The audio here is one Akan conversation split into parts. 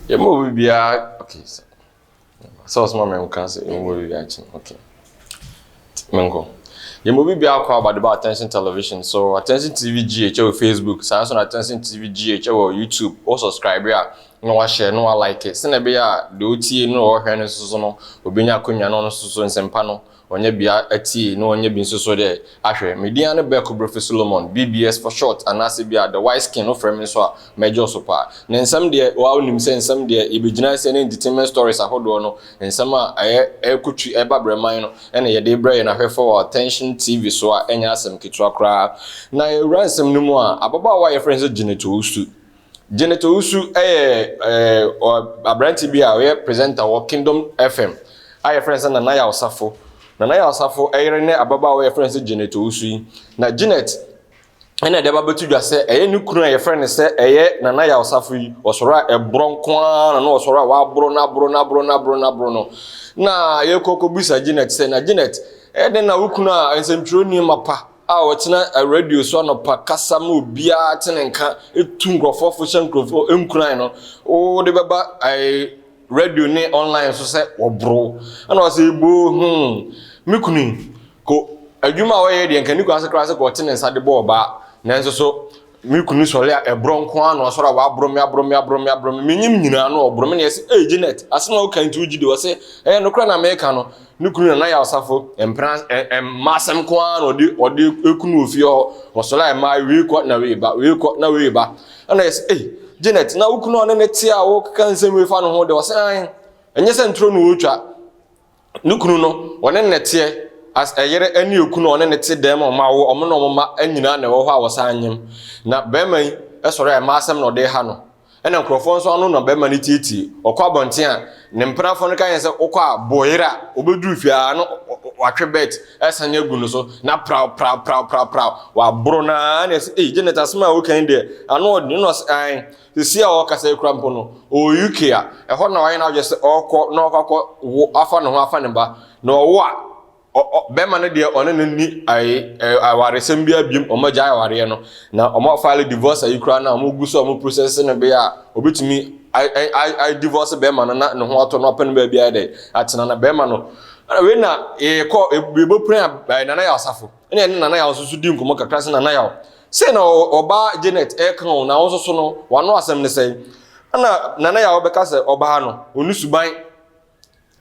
yɛma obi biara okay sɛ sɛ ɔsoma mɛ nka sɛ yɛma obi biara kyi okay menkɔ yɛma obi biara kɔ abade ba attention television so attention tv gh wɔ facebook saa nso na attention tv gh wɔ youtube wɔ subscribe a na wahyɛ na walike sɛnɛ ɛbɛyɛ a deɛ ɔtie no ɔhwɛ no nso so no obɛnya akonnwa no nso so nsɛmpa no Ɔnyɛ bi ara tsie na ɔnyɛ bi nso so dɛ, Ah hwɛ, me din ara ne Berko Broffe Solomon, BBS for short, anaase bi a The Wise Skin wofrɛ me nso a, mɛgye so paa. Ne nsɛm deɛ, wo ara wonim sɛ nsɛm deɛ, yɛbɛgyina sɛ ne entertainment stories ahodoɔ no, nsɛm a ɛyɛ ɛrekɔ twi ɛreba brɛman no na yɛde rebrɛ yɛn ahwɛfoɔ wɔ Attention TV so a ɛnyɛ asɛm ketewa koraa. Na yɛwura nsɛm no mu a, ababaawa a yɛfrɛ no sɛ Janet Owusu Janet Owusu yɛ aberanteɛ bi a ɔyɛ presenter wɔ Kingdom FM a yɛfrɛ no sɛ Nana Yaw Safo. Nana Yaw Safo yere ne ababaawa a yɛfrɛ no sɛ Janet Owusu yi. Na Janet ɛna ɛde aba bɛto dwa sɛ ɛyɛ ne kunu a yɛfrɛ no sɛ ɛyɛ Nana Yaw Safo yi. Ɔsɔre a ɛborɔ nko ara na na ɔsɔre a waboro no aboro no aboro no aboro no aboro no. Na yɛkɔ kɔbisa Janet sɛ, na Janet, ɛyɛ dɛn na wo kunu a nsɛmtwerɛni mapa a ɔtena radio so anɔpa kasa ma obiara te ne nka tu nkurɔfoɔ fo hyɛ nkurɔfoɔ nkuran no wode bɛba ɛɛ radio ne online so sɛ wɔboro ɛna ɔsɛ eboo hmm me kunu yi ko adwuma a ɔyɛ deɛ nka ne kunu ase koraa sɛ kɔ ɔte ne nsa de bɔ ɔbaa nanso so Me kunu sɔre a, ɛborɔ nko ara na ɔsɔre a waborɔ me, aborɔ me, aborɔ me, aborɔ me. Menyim nyinaa na ɔborɔ me na yɛse, Ei, Janet, asɛm a woka yi nti wogye di? Ɔse, Ɛyɛ nokorɛ na mereka no. Ne kunu Nana Yaw Safo, mpena, mma asɛm nko ara na ɔde, ɔde ku no wɔ fie hɔ. Ɔsɔre a ɛma ae, wei kɔ na wei ba, wei kɔ na wei ba. Ɛna yɛse, Ei, Janet, na wo kunu a ɔne no te a wokeka nsɛm wei fa no ho dɛ? Ɔse, Aane, ɛnyɛ sɛ ntoro na ɔretwa. ne kunu no, wɔne no na ɛteɛ, as ɛyere ɛne okunu a ɔne no te dɛm a wɔn awo wɔn na wɔn mma nyinaa na ɛwɔ hɔ a wɔsan nyem. Na barima yi sɔre a mmaa asɛm na ɔde reha no. Ɛna nkurɔfoɔ nso ano na barima no tietie. Ɔkɔ abɔnten a, ne mpenafoɔ no ka yɛn sɛ wokɔ a bɔ yere a, ɔbɛduru fie a na watwe bɛt asan agu no so na praw praw praw praw praw waboro no ara na ɛsɛ ei Janet asɛm a woka yi deɛ ano ɔden na ɔsɛ ae Seesei a ɔrekasa yi koraa mpo no, ɔwɔ UK a ɛhɔ na wayɛ n'adwene sɛ ɔrekɔ na ɔkɔ akɔ wo afa ne ho afa ne ba. Na ɔwo a, ɔ ɔ bɛrima no deɛ ɔne no nni ayi ɛ awaresɛm biara biom, wɔagyae awareɛ no. Na wɔafile divorce ayi koraa no a wɔgu so a wɔprosɛse no bere a ɔbɛtumi a ɛ a adivorce bɛrima no na ne ho atɔ no apɛ no baabi ayɛ dɛ atena. Na bɛrima no, wei na yɛkɔ yɛbɔ piran a Nana yɛ asafo. ɛna ɛne nana yaw soso di nkɔmɔ kakra sɛ nana yaw sɛ na ɔbaa janet ɛka o na wɔn soso no wano asɛm ne sɛn ɛna nana yaw bɛka sɛ ɔbaa no ɔni suban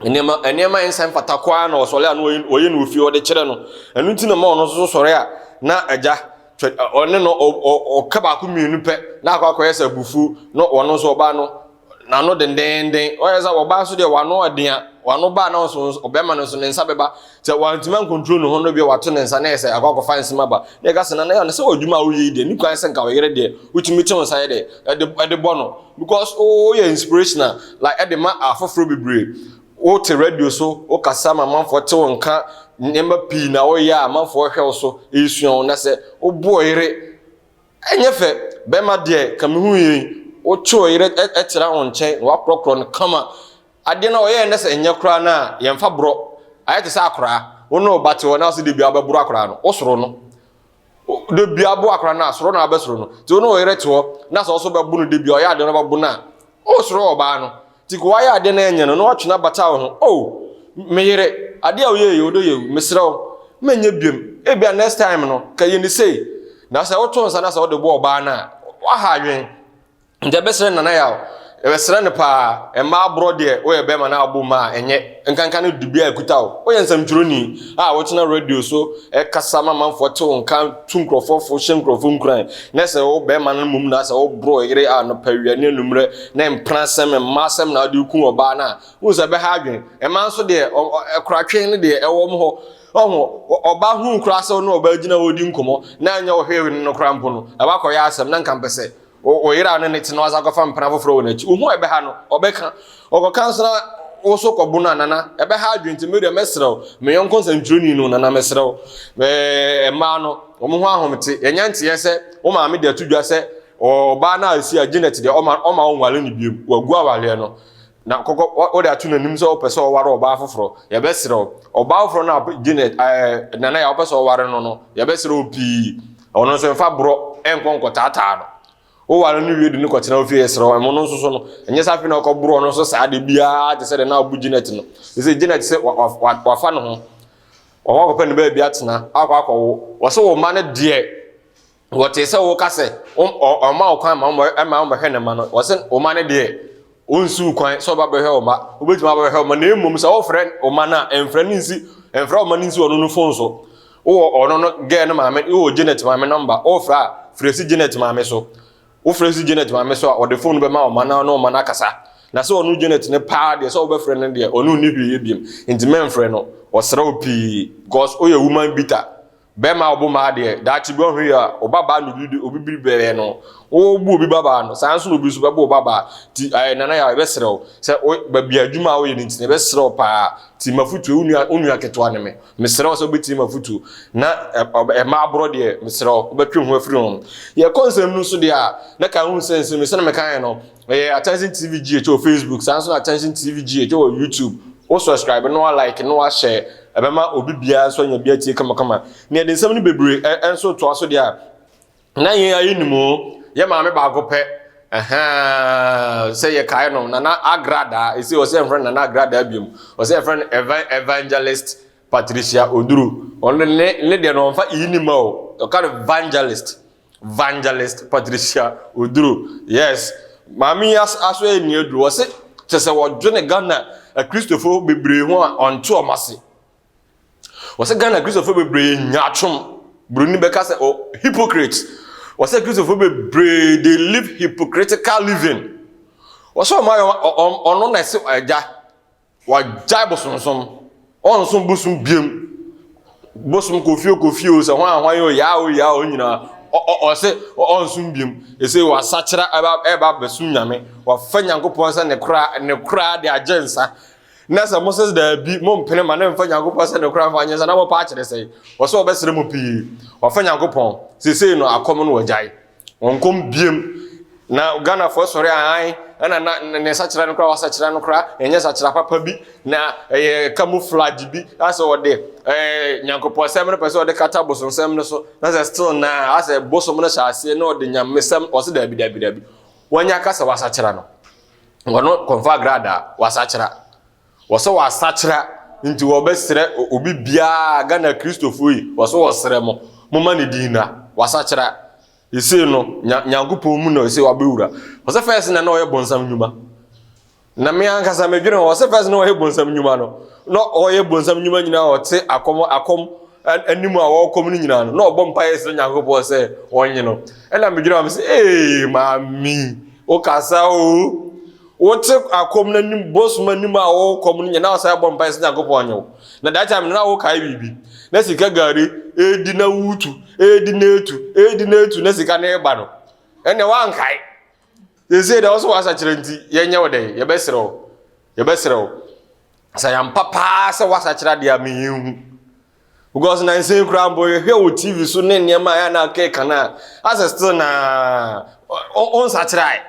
nneɛma nneɛma nsa mfata koraa na ɔsɔre a na ɔyɛ no ofie ɔde kyerɛ no ɛno nti na ma ɔno soso sɔre a na agya ɔne no ɔka baako mmienu pɛ na akɔ akɔyɛ sɛ abufuo na ɔno nso ɔbaa no N'ano dendenden. Ɔyɛ sɛ ɔbaa nso deɛ w'ano ɔden a, w'ano baa na ɔso ɔbɛrima no nso ne nsa bɛba. Sɛ wantumi ankontro ne ho no bi wato ne nsa na yɛ sɛ akɔ akɔfa nsɛm aba. Na ɛka sɛ na na yɛ ne sɛ ɔdwuma a woyɛ yi deɛ ne kwan sɛ nka ɔyere deɛ wotumi to nsa yɛ dɛ ɛde ɛde bɔ no because woyɛ inspirational like ɛde ma afoforɔ bebree. Wote radio so wokasa ma amanfoɔ te wo nka nneɛma pii na woyɛ a amanfoɔ hwɛ wo so ɛsua wo na sɛ woboɔ yere Ɛnyɛ fɛ, bɛrima deɛ ka mehu yei, wotwe wo yere tra wo nkyɛn na woakorɔkorɔ no kama. Adeɛ no a ɔyɛɛ nɛ sɛ ɛnyɛ koraa no a yɛmfa borɔ, ayɛ te sɛ akoraa. Wo ne wo ba te hɔ na ɔse debia wobɛboro akoraa no, wosoro no. Debia bo akoraa no a, soro na wobɛsoro no. Nti wo ne wo yere te hɔ na sɛ ɔso bɛbo no debia ɔyɛ adeɛ no ɔbɛbo no a, wosoro ɔbaa no. Tik wayɛ adeɛ na ɛnyɛ no na watwe no abata wo ho oh me yere adeɛ a woyɛ yɛ odo yɛ wu mesrɛ wo menyɛ biom ebia next time no ka yɛ ni sei na sɛ woto nsa na sɛ wode bɔ ɔbaa no a waha adwen nti ɛbɛsrɛ nana yɛ a ɛbɛsrɛ no paa ɛmma aborɔ deɛ woyɛ bɛrima na abɔ mu a ɛnyɛ nkanka no dubia a ɛkuta wo woyɛ nsɛmtwerɛni a wotena radio so ɛkasa ma manfoɔ te wo nka tu nkurɔfoɔ fo hyɛ nkurɔfoɔ nkuran na sɛ wo bɛrima no mmom na sɛ woborɔ yere anɔpa awia ne anummerɛ Ne mpenasɛm, mma asɛm na wode reku ɔbaa no a, wohu sɛ ɛbɛha adwene. Mmaa nso deɛ, koratwe no deɛ ɛwɔ wɔn hɔ. Ɔho, ɔbaa hunu koraa sɛ wo ne ɔbaa gyina hɔ redi nkɔmmɔ na ɛnyɛ wo hwee ne no koraa mpo no, ɛba kɔyɛ asɛm na nka mpɛ sɛ wo yere a wo ne no te no asan kɔfa mpena foforɔ wɔ n'akyi. Wohu a ɛbɛha no, ɔbɛka. Ɔkɔka nso na wo so kɔbo no a, Nana, ɛbɛha adwene nti me deɛ mɛsrɛ wo, me yɔnko nsɛntwerɛni no, Nana mesrɛ wo. Ɛɛ, mmaa no, wɔn ho ahomete. Yɛnya nteɛ sɛ wo maame de ato dwa sɛ Ɔbaa no a esi a Janet deɛ ɔma ɔma ɔnware no bio, wagu awareɛ no na kɔkɔ ɔde ato n'anim sɛ ɔpɛ sɛ ɔware ɔbaa foforɔ, yɛbɛsrɛ wo. Ɔbaa foforɔ no a Janet ɛɛ Nana yɛ a ɔpɛ sɛ ɔware no no, yɛbɛsrɛ wo pii, ɔno nso mfa borɔ nkɔ nkɔtaataa no. Woware no wie de no kɔtena wo fie, yɛsrɛ wo. Ɛmo no nso so no, ɛnyɛ sɛ afei na ɔkɔboro ɔno nso saa de biara te sɛ deɛ na abu Janet no. Ɛsɛ Janet sɛ wa, wa, wa, wafa ne ho, wakɔ akɔpɛ ne baabi atena, akɔ akɔwo. Wɔsɛ wo mma no deɛ wɔtee sɛ wɔka sɛ ɔma wo kwan ma ɛma wɔn bɛhwɛ ne mma no wɔsɛ wɔn mma no deɛ ɔnsi wo kwan sɛ ɔba bɛhwɛ wɔn mma wobɛtumi aba bɛhwɛ wɔn mma na mmom sɛ wɔfrɛ wɔn mma no a ɛmfrɛ ne nsi ɛmfrɛ wɔn mma no nsi ɔno no fon so wowɔ ɔno no gɛɛ no maame wowɔ Janet maame nɔmba wɔfrɛ a frɛ si Janet maame so wofrɛ si Janet maame so a ɔde fon no bɛma wɔn mma no na wɔn mma no akasa na sɛ ɔno Janet no paa deɛ sɛ wobɛfrɛ no deɛ ɔno nni hwee yɛ biem nti mɛmfrɛ no ɔsrɛ wo pii because woyɛ woman bitter Bɛma ɔbo maa deɛ daakye bi ɔhwɛ yi a ɔbabaa na obi de obi biri bɛyɛ no ɔbu obi babaa no saa nso na obi nso bɛbɔ ɔbabaa ti ɛɛ nana yɛ a yɛbɛsrɛ wo sɛ o baabi adwuma a woyɛ no nti na yɛbɛsrɛ wo paa ti mafutuo wo nua wo nua ketewa ne me mesrɛ wo sɛ wobɛtie mafutuo na ɛma aborɔ deɛ mesrɛ wo wobɛtwe ho afiri ho yɛkɔ nsɛm no nso deɛ a na ka ho sɛ nsɛm sɛ na meka yɛ no Ɔyɛ Attention TV GH wɔ Facebook, saa nso na Attention TV GH wɔ YouTube. Wo subscribe na wa like na wa share, ɛbɛma obi biara nso anya bi atie kamakama. Nea yɛde nsɛm no bebree nso toa so deɛ a, na yɛn ara yɛnim o, yɛn maame baako pɛ, ɛhaa, sɛ yɛkae no, Nana Agradaa, ɛsei ɔsɛ yɛmfrɛ no Nana Agradaa biom, ɔsɛ yɛmfrɛ no Evan, Evangelist Patricia Oduru, ɔno ne, ne deɛ no ɔmfa E ni ma o, ɔka no Evangelist. Vangelist Patricia Oduro, yes, maame yi aso yɛ nea aduru. Ɔse kyɛ sɛ wɔdwene Ghana Akristofo bebree ho a ɔnte wɔn ase. Ɔse Ghana Akristofo bebree yɛ nyaatwom. Buroni bɛka sɛ oh, hypocrites. Ɔse Akristofo bebree they live hypocritical living. Ɔse wɔn ayɛ ɔno na ɛse agya Wɔagyae bosomsom. Wɔnnsom bosom biom. Bosom kɔ fie kɔ fie o, sɛ hwan hwan o, yaa o yaa o nyinaa. Ɔse ɔnnsom biom. Ɛsei wɔasakyera ɛba abɛsom Nyame. Wɔafa Nyankopɔn sɛ ne kora, ne kora de agye nsa. Na sɛ mose daabi, mompene ma ne mfa Nyankopɔn sɛ ne kora mfa nye nsa na mopɛ akyerɛ sɛn? Wɔse wɔbɛsrɛ mo pii. Wɔafa Nyankopɔn. Seisei no akɔm no wɔagyae. Ɔnkɔm biem na Ghanafoɔ sɔre ahan ɛna na ne sakyera no koraa wasakyera no koraa ɛnyɛ sakyera papa bi na ɛyɛ camouflage bi asɛ ɔde ɛɛ nyankopɔn sɛm no pɛ sɛ ɔde kata bosom sɛm no so na sɛ still na asɛ bosom no hyɛ aseɛ na ɔde nyame sɛm ɔsɛ daabi daabi daabi wɔnyɛ aka sɛ wasakyera no wɔno kɔnfa agradaa wasakyera Wɔsɛ wɔasakyera nti wɔbɛserɛ obi biaa Ghana Kristofo yi wɔsɛ wɔserɛ mo moma ne din na wasakyera esei no Nyankopɔn mu na esei wabɛwura wɔsɛ fɛs na na ɔyɛ bonsam nnwuma na me ankasa me dwene ho wɔsɛ fɛs na ɔyɛ bonsam nnwuma no na ɔyɛ bonsam nnwuma nyinaa ɔte akɔm akɔm anim a wɔkɔm no nyinaa no na ɔbɔ mpa yɛ srɛ Nyankopɔn sɛ ɔnye no ɛna me dwene ho me sɛ ee maame wokasa o Wote akɔm na nim bosom anim a wokɔm no nyɛ na wasan abɔ mpae sɛ Nyankopɔn nyɛ wo. Na that time no na wokae biribi. Na sika gari edi na wutu, edi na etu, edi na etu na sika no reba no. Ɛnna wankae. Sɛsɛ deɛ ɔsɛ w'asakyerɛ nti yɛnyɛ wo dɛn yɛbɛsrɛ wo. Yɛbɛsrɛ wo. Sɛ yɛampa paa sɛ w'asakyerɛ adeɛ a mehu. Because na nsɛn koraa mpo yɛhwɛ wɔ TV so ne nneɛma a ɛyɛ na akeka no a asɛ still na ɔnsakyerɛ ae.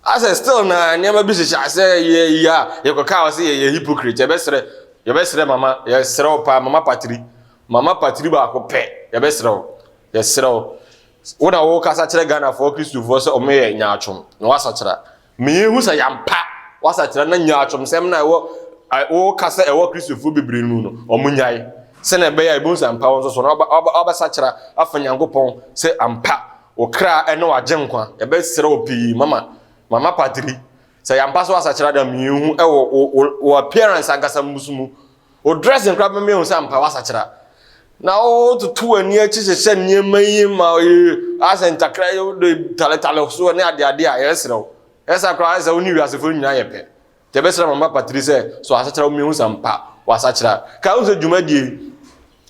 asɛ still na nneɛma bi hyehyɛ asɛ yɛ yi a yɛkɔka wɔ sɛ yɛyɛ hypocrite yɛbɛsrɛ yɛbɛsrɛ mama yɛsrɛ wo paa mama patiri mama patiri baako pɛ yɛbɛsrɛ wo yɛsrɛ wo wo na wo kasa kyerɛ ghanafoɔ kristofoɔ sɛ ɔmo yɛ nyaatwom na wasakyera meyɛ hu sɛ yampa wasakyera na nyaatwom sɛm na ɛwɔ wo kasa ɛwɔ kristofoɔ bebree mu no ɔmo nyae sɛnea ɛbɛyɛ a ebi nsa mpa wɔn nso so na wabɛsakyera afa nyankopɔn sɛ ampa Wo kra ne w'agyenkwa. Yɛbɛsrɛ wo pii, Mama, Mama Patri, sɛ yɛ ampa so w'asakyera da miehu wɔ wo, wo, wo appearance ankasa mmusu mu. Wo dressing koraa bɛma yɛahu sɛ ampa w'asakyera. Na wo, wototo w'ani akyi hyehyɛ nneɛma yi ma ɔyɛ asɛ ntakra yi, wode taletale so ne adeade a, yɛsrɛ wo. Ɛyɛ saa koraa a, ayɛ sɛ wo ne wiasefo no nyinaa yɛ pɛ. Yɛbɛsrɛ Mama Patri sɛ sɔ asakyera mu mehu sɛ ampa wasakyera. Kae wo sɛ dwumadie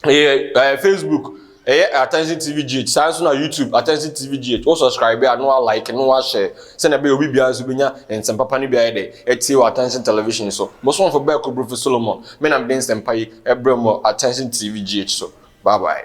yi ɛyɛ ɛɛ Facebook ɛyɛ Attention TV GH saa nso na YouTube Attention TV GH wo subscribe a na wa like na wa share sɛnea ɛbɛyɛ obi biara nso bɛnya nsɛmpa pa no bi ayɛ dɛ atie wɔ Attention Television so. Bosomfo Bɛɛko Brofo Solomon me na mede nsɛmpa yi ɛbrɛ mo wɔ Attention TV GH so. Bye bye.